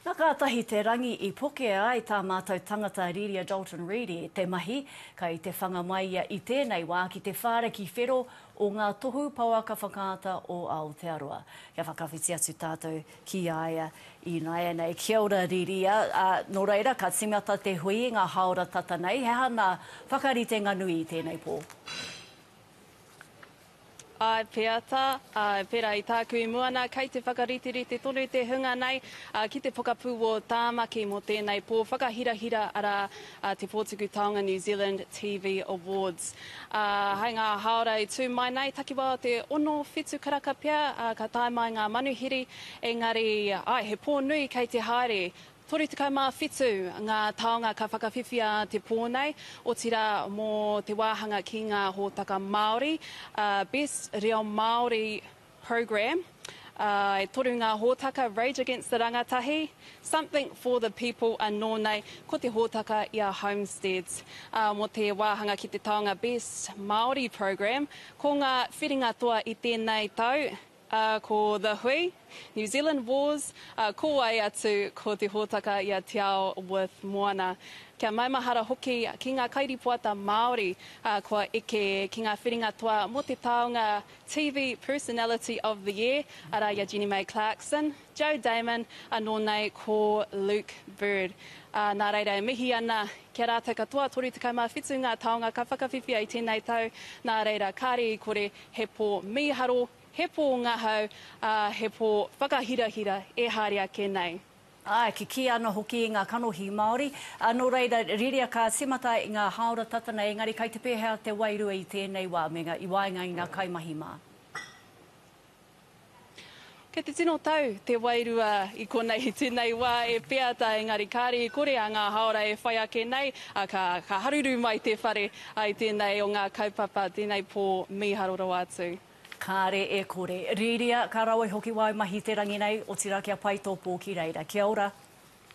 Nā kātahi te rangi i pokea ai tā mātou tangata Riria Dalton Reid i te mahi, kai te whanga mai ia i tēnei wā ki te whāra ki Whero o ngā Tohu Pouaka Whakaata o Aotearoa. Kia whakawhiti atu tātou ki a ia ināianei. Kia ora Riria, nō reira ka tīmata te hui i ngā hāora tata nei, he aha ngā whakaritenga nui i tēnei pō? Āe pea tā, āe, pērā i tāku i mua nā, kei te whakariterite tonu te hunga nei ki te pokapū wō Tāmaki mō tēnei pō whakahirahira, arā, te Pōtuku Taonga New Zealand TV Awards. Ā, hai ngā hāora i tū mai nei, takiwā o te ono, whitu karaka pea, ā, ka tae mai ngā manuhiri, engari, āe, he pō nui kei te haere, 37 ngā taonga ka whakawhiwhia te pō nei, otirā mō te wāhanga ki ngā hōtaka Māori, ā, Best Reo Māori Programme, ā, e toru ngā hōtaka, Rage Against the Rangatahi, Something for the People anō nei, ko te hōtaka i a Homesteads. Ā, mō te wāhanga ki te taonga Best Māori Programme, ko ngā whiringa toa i tēnei tau, ā, ko The Hui, New Zealand Wars, ā, ko wai atu ko te hōtaka i a Te Ao with Moana. Kia maumahara hoki ki ngā kairīpoata Māori, ā, kua eke ki ngā whiringa toa mō te taonga TV Personality of the Year, arā i a Jenny May Clarkson, Joe Damon, anō nei ko Luke Bird. Ā, nā reira e mihi ana ki a rātou katoa, 37 ngā taonga ka whakawhiwhia i tēnei tau, nā reira, kāre i kore He pō mīharo, he pō ngahau, ā, he pō whakahirahira e haere ake nei. Āe, kikī ana hoki i ngā kanohi Māori. Nō reira, riria ka tīmata i ngā hāora tata nei, engari kei te pēhea te wairua i tēnei wā, me ngā, i waenga i ngā kaimahi mā? Kei te tino tau te wairua i konei tenei wa e peata engari kare i kore a nga haora e whai ake nei a ka ka haruru mai te whare ai tenei o nga kaupapa tenei po miharo rawa atu. Kare e kore. Riria, ka rawe hoki wai mahi te rangi nei, otira kia pai to po ki reira. Kia ora.